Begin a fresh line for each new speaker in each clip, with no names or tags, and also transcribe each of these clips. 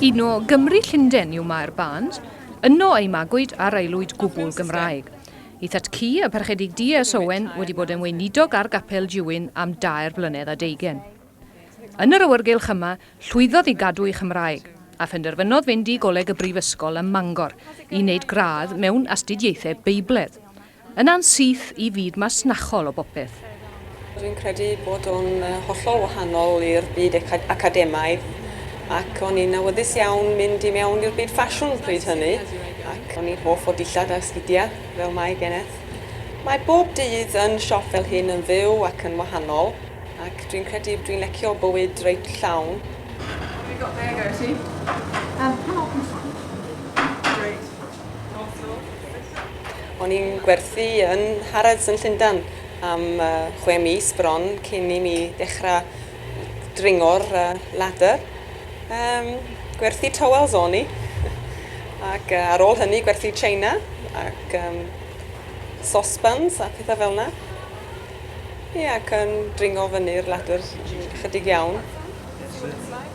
Un o Gymru Llundain yw Mair Barnes, yno ei magwyd ar aelwyd gwbl Gymraeg. Ei thad cu, y Parchedig DS Owen, wedi bod yn weinidog ar Gapel Juin am dair blynedd a deugen. Yn yr awyrgylch yma, llwyddodd i gadw ei Chymraeg, a phenderfynodd fynd i Goleg y Brifysgol ym Mangor i wneud gradd mewn Astudiaethau Beibledd. Yna'n syth i fyd masnachol o bopeth. Dwi'n credu bod o'n hollol wahanol i'r byd academaidd ac o'n i'n awyddus iawn mynd i mewn i'r byd ffasiwn pryd hynny ac o'n i'n hoff o dillad a sgidiau fel mae Geneth. Mae bob dydd yn siop fel hyn yn fyw ac yn wahanol ac dwi'n credu dwi'n lecio bywyd reit llawn. There you go, there you go, see? Yym, pan o'r pwysa? Great. O'n i'n gwerthu yn Harrods yn Llundain am uh, chwe mis bron cyn i mi ddechrau dringo'r uh, ladder. Um, gwerthu towels o'n i. Ac uh, ar ôl hynny gwerthu China ac um, saucepans a pethau fel yna. Ie, yeah, ac yn dringo fyny'r ladder chydig iawn.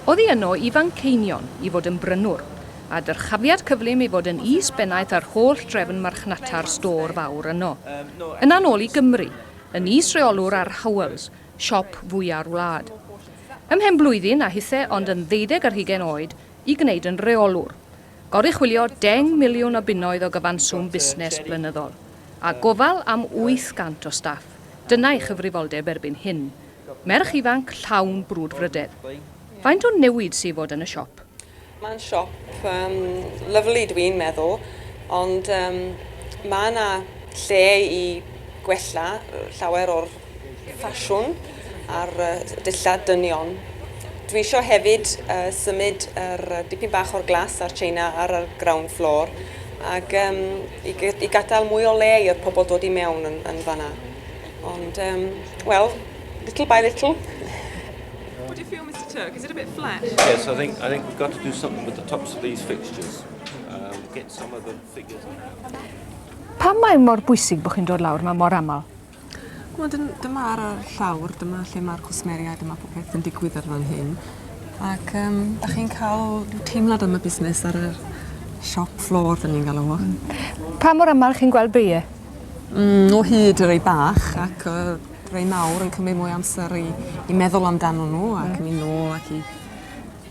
Oedd hi yno i Fanceinion i fod yn brynwr, a dyrchafiad cyflym i fod yn is-bennaeth ar holl drefn marchnata'r stôr fawr yno. Yna'n ôl i Gymru, yn is-reolwr ar Howells, siop fwya'r wlad. Ymhen blwyddyn a hithe ond yn ddeuddeg ar hugain oed i gwneud yn reolwr. Goruchwylio deng miliwn o bunnoedd o gyfanswm busnes blynyddol, a gofal am 800 o staff, dyna'i chyfrifoldeb erbyn hyn. Merch ifanc llawn brwdfrydedd. Faint o newid sy' i fod yn y siop? Mae'n siop yym lyfli dw i'n meddwl ond yym mae yna lle i gwella llawer o'r ffasiwn a'r yy dillad dynion. Dwi isio hefyd yy symud yr yy dipyn bach o'r glas a'r china ar yr ground floor ac yym i g- i gadael mwy o le i'r pobl dod i mewn yn yn fan'na. Ond yym wel little by little. What do you feel, Mr Turk? Is it a bit flat? Yes, I think, I think we've got to do something with the tops of these fixtures. Um, get some of the figures out. Pam mae mor bwysig bod chi'n dod lawr mae mor aml? Wel, dyma ar y llawr, dyma lle mae'r cwsmeriau, dyma popeth yn digwydd ar fan hyn. Ac um, da chi'n cael teimlad am y busnes ar y siop floor, dyn ni'n galw fo. Pa mor aml chi'n gweld beiau? Mm, o hyd yr ei bach ac uh, rei mawr yn cymryd mwy o amser i i meddwl amdanyn n'w ac myn' nôl ac i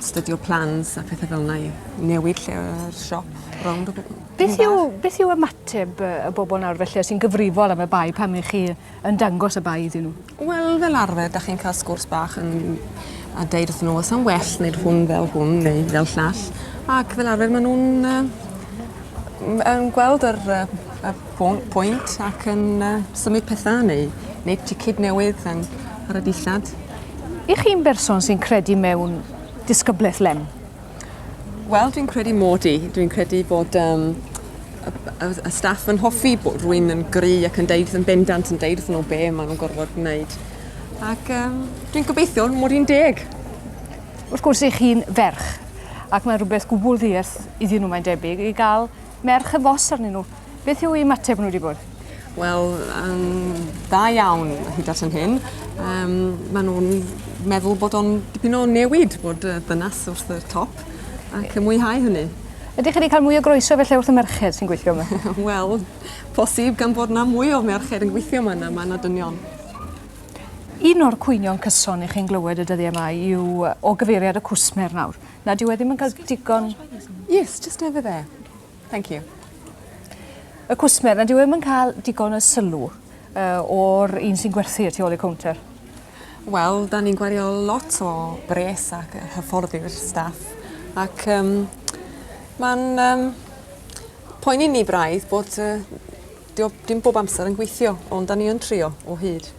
stydio plans a phethe fel 'na i newid lle yr siop rownd y by-... Beth yw beth yw ymateb yy y bobol nawr felly os ti'n gyfrifol am y bae pan 'ych chi yn dangos y bae iddyn n'w? Wel fel arfer 'dach chi'n ca'l sgwrs bach yn a deud wrthyn n'w o's am well neud hwn fel hwn neu fel llall ac fel arfer ma' nw'n yy m- yn gweld yr yy y pwynt ac yn uh, symud pethau neu wneud ticid newydd yn, ar y dillad. I chi'n berson sy'n credu mewn disgyblaeth lem? Wel, dwi'n credu mod i. Dwi'n credu bod um, y, y, y staff yn hoffi bod rwy'n yn gry ac yn deud yn bendant yn deud wrth nhw be maen nhw'n gorfod gwneud. Ac um, dwi'n gobeithio mod i'n deg. Wrth gwrs, i chi'n ferch, ac mae rhywbeth gwbl ddiarth iddyn nhw mae'n debyg, i gael Mae'r chyfos arnyn nhw. Beth yw ei ymateb nhw wedi bod? Wel, um, da iawn hyd at yn hyn. Um, maen nhw'n meddwl bod o'n dipyn o newid bod uh, dynas wrth y top ac yn mwynhau hynny. Ydych chi wedi cael mwy o groeso felly wrth y merched sy'n gweithio yma? Wel, posib gan bod yna mwy o merched yn gweithio yma na mae yna dynion. Un o'r cwynion cyson i chi'n glywed y dyddiau yma yw o gyfeiriad y cwsmer nawr. Na, dyw e ddim yn cael digon... Yes, just over there. Thank you. Y cwsmer, na dyw e ddim yn cael digon o sylw uh, o'r un sy'n gwerthu tu ôl i'r counter. Wel, da ni'n gwario lot o bres ac hyfforddi'r staff. Ac um, mae'n um, poeni ni braidd bod uh, dim bob amser yn gweithio, ond da ni yn trio o hyd.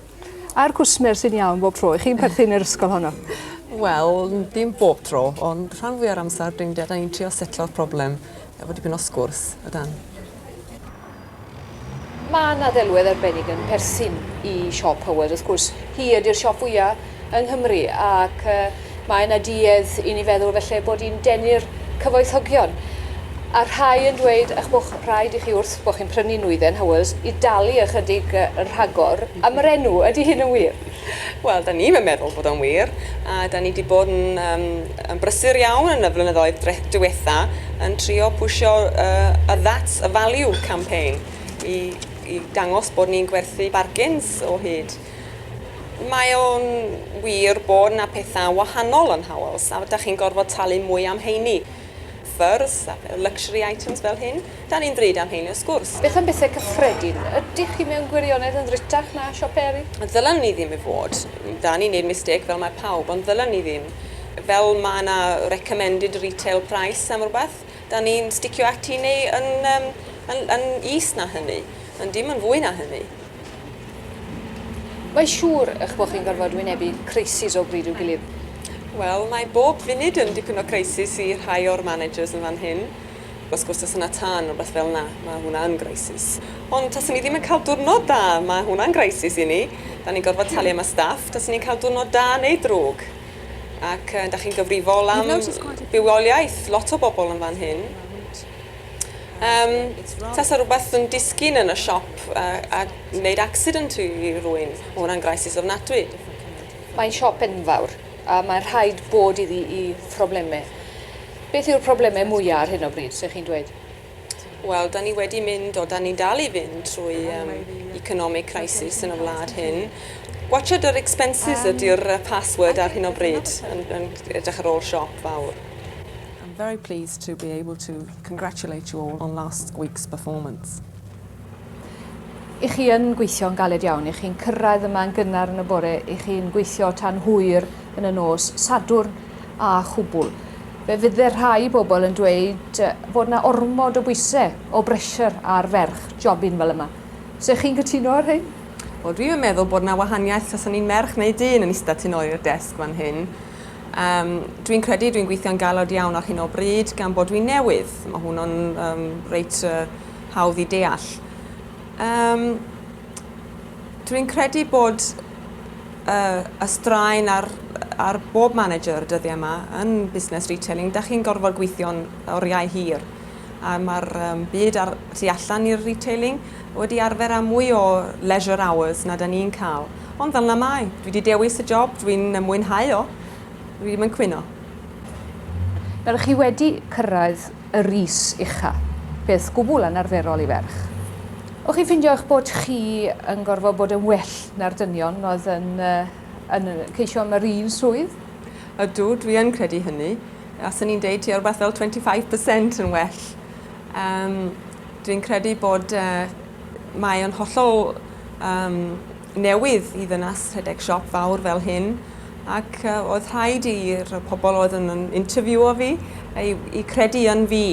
A'r cwsmer sy'n iawn bob tro? Ych chi'n perthyn i'r ysgol honno? Wel, dim bob tro, ond rhan fwy ar amser dyn dad a'n trio setlo'r problem efo dipyn o sgwrs a dan. Mae yna ddelwedd arbennig yn perthyn i siop Howard, wrth gwrs. Hi ydy'r siop fwya' yng Nghymru ac Mae yna duedd i ni feddwl felly bod hi'n denu'r cyfoethogion. A rhai yn dweud eich bod rhaid i chi wrth bod chi'n prynu nwyddau Howells i dalu ychydig yn rhagor am yr enw. Ydy hyn yn wir? Wel, da ni'm yn meddwl bod o'n wir, a da ni wedi bod yn um, yn brysur iawn yn y flynyddoedd diwetha yn trio pwysio uh, a that's a value campaign i, i dangos bod ni'n gwerthu bargains o hyd. Mae o'n wir bod 'na pethau wahanol yn Howells a 'da chi'n gorfod talu mwy am heini. Ffyrdd, luxury items fel hyn, 'da ni'n ddrud am heini wrth gwrs. Beth am bethau cyffredin? Ydych chi mewn gwirionedd yn ddrutach na siopau eraill? Ddylen ni ddim i fod. 'Da ni'n neud mistêc fel mae pawb, ond ddylen ni ddim. Fel mae 'na recommended retail price am rywbeth, 'da ni'n sticio ati neu yn, yn, yn is na hynny. Ond dim yn fwy na hynny. Mae'n siŵr eich bod chi'n gorfod wynebu crisis o bryd i'w gilydd. Wel, mae bob funud yn dipyn o crisis i rhai o'r managers yn fan hyn. Wrth gwrs, tase 'na tân neu rywbeth fel 'na, mae hwnna yn grisis. Ond tase ni ddim yn cael diwrnod da, mae hwnna'n grisis i ni. Da ni'n gorfod talu am y staff, tase ni'n cael diwrnod da neu drwg. Ac da chi'n gyfrifol am bywoliaeth lot o bobl yn fan hyn. Um, tasa rhywbeth yn disgyn yn y siop a, a wneud accident i rwy'n, mae hwnna'n graisis ofnadwy. Mae'n siop enfawr, a mae'n rhaid bod iddi i phroblemau. Beth yw'r problemau mwyaf ar hyn o bryd, sef chi'n dweud? Wel, da ni wedi mynd, o da ni'n dal i fynd trwy um, economic crisis yn y wlad hyn. Watchad yr expenses ydy'r password ar hyn o bryd yn, yn edrych ar ôl siop fawr. I'm very pleased to be able to congratulate you all on last week's performance. I chi yn gweithio'n galed iawn, i chi'n cyrraedd yma yn gynnar yn y bore, i chi'n gweithio tan hwyr yn y nos, Sadwrn a chwbl. Fe fydde rhai bobl yn dweud bod yna ormod o bwysau, o bressure ar ferch jobyn fel yma. Se chi'n cytuno ar hyn? Wel, dwi'm yn meddwl bod yna wahaniaeth os o'n i'n merch neu dyn yn ista tu nôl i'r desg fan hyn. Yym, dwi'n credu dwi'n gweithio'n galed iawn ar hyn o bryd, gan bod dwi'n newydd. Mae hwnnw'n um, reit uh, hawdd i deall. Um, dwi'n credu bod uh, y straen ar, ar bob manager y dyddiau yma yn busnes retailing, da chi'n gorfod gweithio'n oriau hir. a mae'r um, byd ar tu allan i'r retailing wedi arfer â mwy o leisure hours na da ni'n cael. Ond fel na mae, dwi wedi dewis y job, dwi'n mwynhau o, dwi wedi mynd cwyno. Nawr, chi wedi cyrraedd y ris ucha, peth gwbl anarferol i ferch. O'ch chi'n ffindio eich bod chi yn gorfod bod yn well na'r dynion oedd yn, uh, yn ceisio am yr un swydd? Ydw, dwi yn credu hynny. A 'swn i'n deud tua rhywbeth fel 25 per cent yn well. Um, dwi'n credu bod uh, mae o'n hollol um, newydd i ddynas rhedeg siop fawr fel hyn ac uh, oedd rhaid i'r pobl oedd yn interviewio fi i, i credu yn fi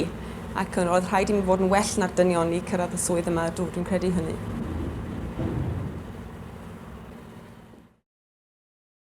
ac oedd rhaid i mi fod yn well na'r dynion i cyrraedd y swydd yma, dw, dwi'n credu hynny.